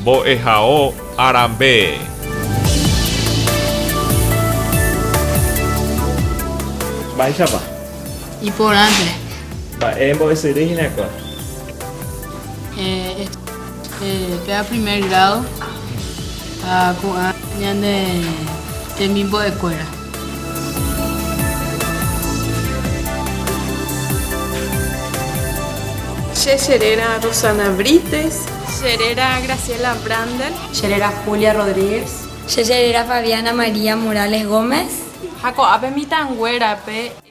Mbo'ehao arambe. Mba'éichapa? Iporãnte. Mba'e mbo'esyry hína kóa. Eh, eh, pea primer grado ah, ko'ã ñane temimbo'ekuéra. Che cheréra Rosana Brites. Cheréra Graciela Brander. Cheréra Julia Rodríguez. Che cheréra Fabiana María Morales Gómez. Ha ko'ápe mitãnguérape.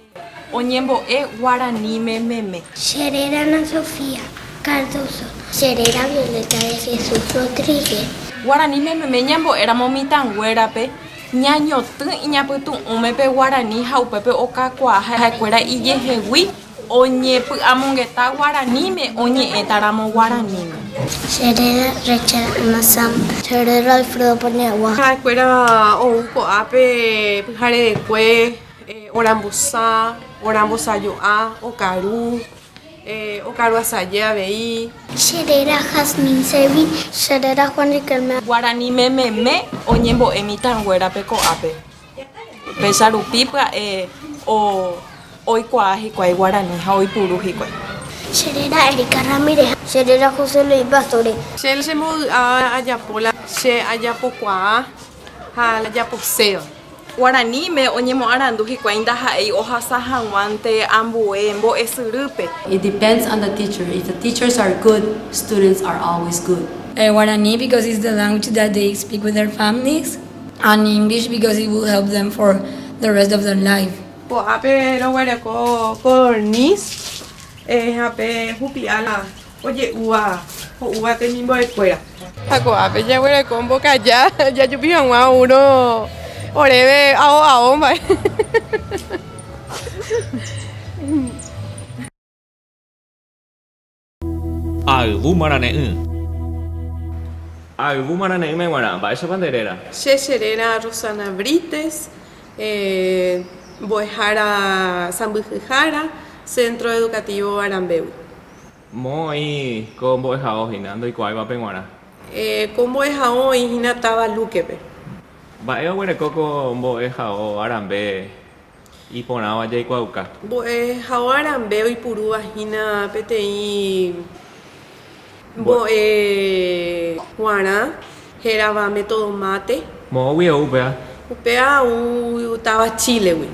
Oñembo'e guaraníme meme. Che réra Ana Sofía Cardoso. Che réra Violeta de Jesús Rodríguez. Guaraníme meme ñambo'éramo mitãnguérape ñañotỹ iñapytu'ũme pe guarani ha upépe okakuaa ha'ekuéra ijehegui oñepy'amongeta guaraníme oñe'ẽtaramo guaraníme. Che réra Rachel Ana Sámpa. Che réra Alfredo Paniagua. Ha'ekuéra ou ko'ápe pyharerekue. Orambusa, orambosajo'a, okaru, okaru asaje avei. Che réra Jasmine Servi, che réra Juan Riquelme. Guarani mememe oñembo'e mitãnguérape ko'ápe, péicha rupi pya'e oikuaa hikuái guarani ha oipuru hikuái. Che réra Erika Ramírez. Che réra José Luis Pastori. Che che mbovy'a ajapo la che ajapokuaa. Ha la japoséva. Guaraníme oñemoarandu hikuái ndaha'éi ohasa hag̃uánte ambue mbo'esyrýpe. It depends on the teacher, if the teachers are good, students are always good. Guarani because it's the language that they speak with their families and English because it will help them for the rest of their life. Ko'ápe roguereko ko dorniz ha pe hupi'a la. oje'úva ho'úva temimbo'ekuéra. Ha ko'ápe jaguereko mbokaja jajupi hag̃ua oúrõ oréve ao ao mba'e. Ha ayvu marane'ỹ. Ha ayvu marane'ỹme g̃uarã, mba'éichapa nde réra? Che che réra Rosana Brites, mbo'ehára Sãmbyhyhára, Centro Educativo Arambégui. Moõ oĩ ko mbo'ehao hína ndoikuaáivape g̃uarã. Ko mbo'ehao oĩ hína táva Lúquepe. Mba'e oguereko ko mbo'ehao arambe iporãva jaikuaauka. Mbo'ehao arambe oipurúva hína peteĩ mbo'e g̃uarã. Hérava método mate. Moõgui ou upéva. Upéva ou táva Chílegui.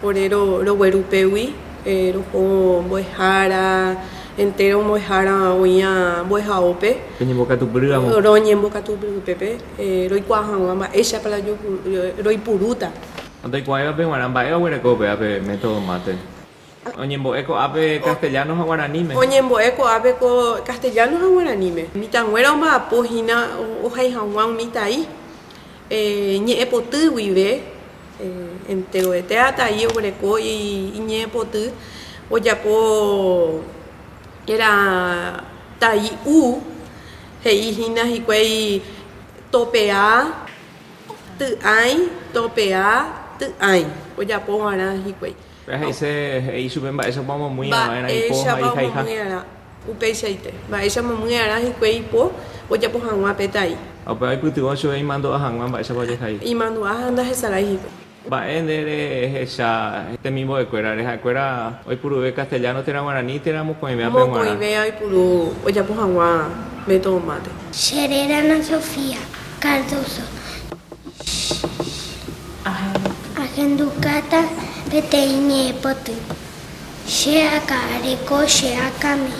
Ore rogueru upégui, roho mbo'ehára, entéro mbo'ehára oĩva mbo'ehaópe. Roñembokatupyry ramo. Roñembokatupyry upépe, roikuaa hag̃ua mba'éichapa la roipurúta. Ha ndoikuaáivape g̃uarã mba'e oguereko upéva pe método mate. Oñembo'e ko'ápe castellano ha guaraníme. Oñembo'e ko'ápe ko castellano ha guaraníme. Mitãnguéra omba'apo hína ohai haguã umi tai ñe'ẽpoty guive. Enteroetéva tai oguereko iñe'ẽpoty ojapo era tai u, he'i hína hikuái topea ty'ãi, topea ty'ãi ojapo guarã hikuái. Péa he'ise he'i chupe mba'éichapa omomyi'ã va'erã ipo ha ihaiha. Upeichaite, mba'éicha momyi'arã hikuái ipo ojapo hag̃ua pe tai. Ha upéva oipytyvõ chupe imandu'a hag̃ua mba'éichapa ojehai. Imandu'a ha ndahesarái hikuái. Mba'e nde rehecha temimbo'ekuérare ha'ekuéra oipuruve castellano térã guarani térã mokõivéape g̃uarã. Mokõivéa oipuru ojapo hag̃ua método mate. Che réra Ana Sofía Cardoso. Ahendukáta peteĩ ñe'ẽpoty. Che akã reko che akãme,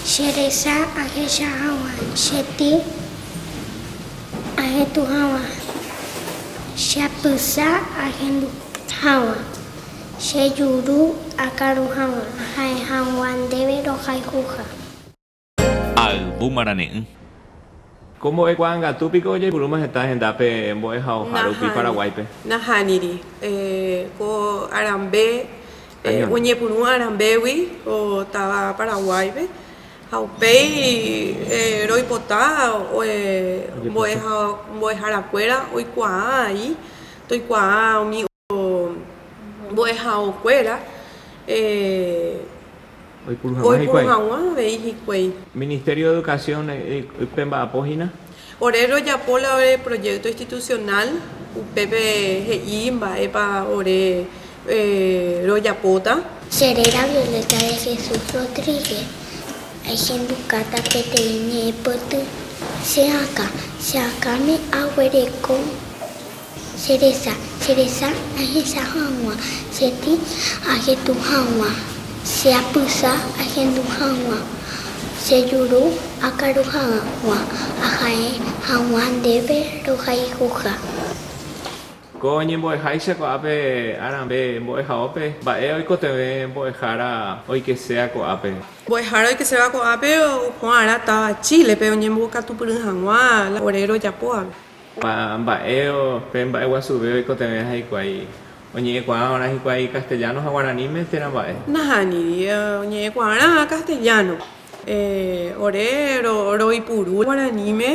che resa ahecha hag̃ua che ty ahetũ hag̃ua, che apysa ahendu hag̃ua, che juru akaru hag̃ua, aha'e hag̃ua ndéve rohayhuha. Ha yvu marane'ỹ. Ko mbo'e kuaa'angatu piko ojeipurúma heta hendápe mbo'ehaoha rupi Paraguáipe. Nahániri. Ko arambe oñepurũ arambégui táva Paraguáipe ha upéi roipota mbo'eharakuéra oikuaa aĩ toikuaa umi. mbo'ehaokuéra oipuru hag̃ua avei hikuái. Ministerio de Educación ype mba'apo hína. Ore rojapo la ore proyecto institucional upépe he'i mba'épa ore rojapóta. Che réra Violeta de Jesús Rodríguez, ahendukáta peteĩ ñe'ẽpoty che akã. Che akãme aguereko Che resa, che resa ahecha hag̃ua, che tĩ ajetu hag̃ua, che apysa ahendu hag̃ua, che juru akaru hag̃ua, aha'e hag̃ua ndéve rohayhuha. Ko ñembo'eháicha ko'ápe arãve mbo'ehaópe, mba'e oikotevẽ mbo'ehára oikeséa ko'ápe. Mbo'ehára oikeséva ko'ápe opu'ãrã táva Chílepe oñembokatupyry hag̃ua la ore rojapóvape. Ha mba'e pe mba'e guasuve oikotevẽha hikuái? Oñe'ẽkuaávarã hikuái castellano ha guaraníme térã mba'e. Nahániri oñe'ẽkuaávarã castellano. Ore roipuru guaraníme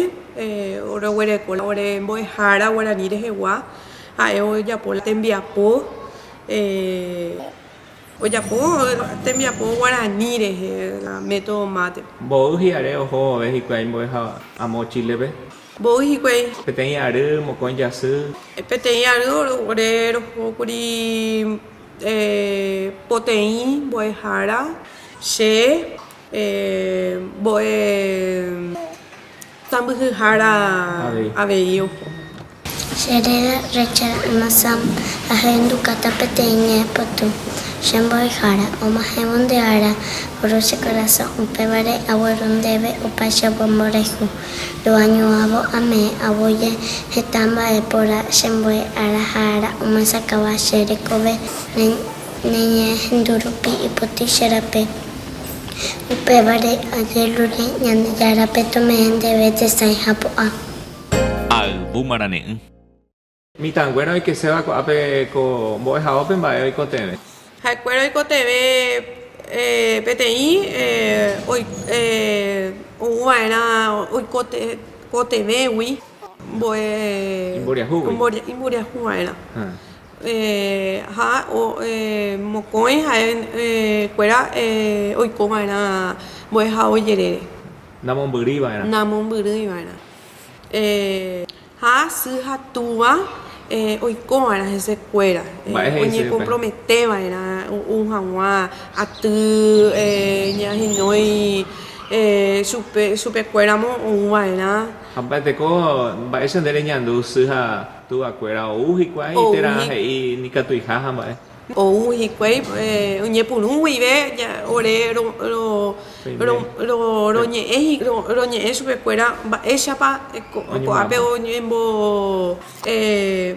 roguereko ore mbo'ehára guarani rehegua, ha'e ojapo la tembiapo, ojapo tembiapo guarani rehe la método mate. Mboy hi'are oho vove hikuái mbo'eháva amo Chile-pe. Mboy hikuái. Peteĩ ary mokõi jasy. Peteĩ ary ore rohókuri poteĩ mbo'ehára che mbo'e sãmbyhyhára avei oho. Che réra recha Masam ahendukáta peteĩ ñe'ẽpoty che mbo'ehára omahẽvo nde ára, Rusia korasõ, upévare agueru ndéve opa che ombomboreju. Roañuãvo ame'ẽ'avo je heta mba'e porã che mbo'e ára ha ára omasakáva che rekove ne ñehendu rupi ipotĩ che rape. Upévare ajeruréi Ñandejárape tome'ẽ ndéve tesãi ha pu'ã. Ayvu marane'ỹ. Mitãnguéra oikeséva ko'ápe ko mbo'ehaópe mba'e oikotevẽ. Ha'ekuéra oikotevẽ peteĩ ouva'erã oikotevẽgui mbo'e imboriahuva'erã. Ha mokõi ha'ekuéra oikova'erã mbo'ehao jerére. Namombyrýiva'erã. Ha sy ha túva oikóva'erã hesekuéra, oñekomprometeva'erã oúu haguã aty ñahenói chupekuéramo oúva'erã. Ha mba'eteko mba'éicha nde reñandu sy ha túvakuéra ou hikuái térã he'i ikatuiha ha mba'e. Ou hikuái oñepyrũ guive ore roñe'ẽ chupekuéra mba'éichapa ko'ápe oñembo,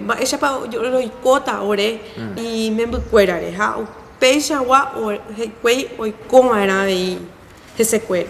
mba'éichapa roikóta ore imembykuérare ha upéichagua hikuái oikova'erã avei hesekuéra.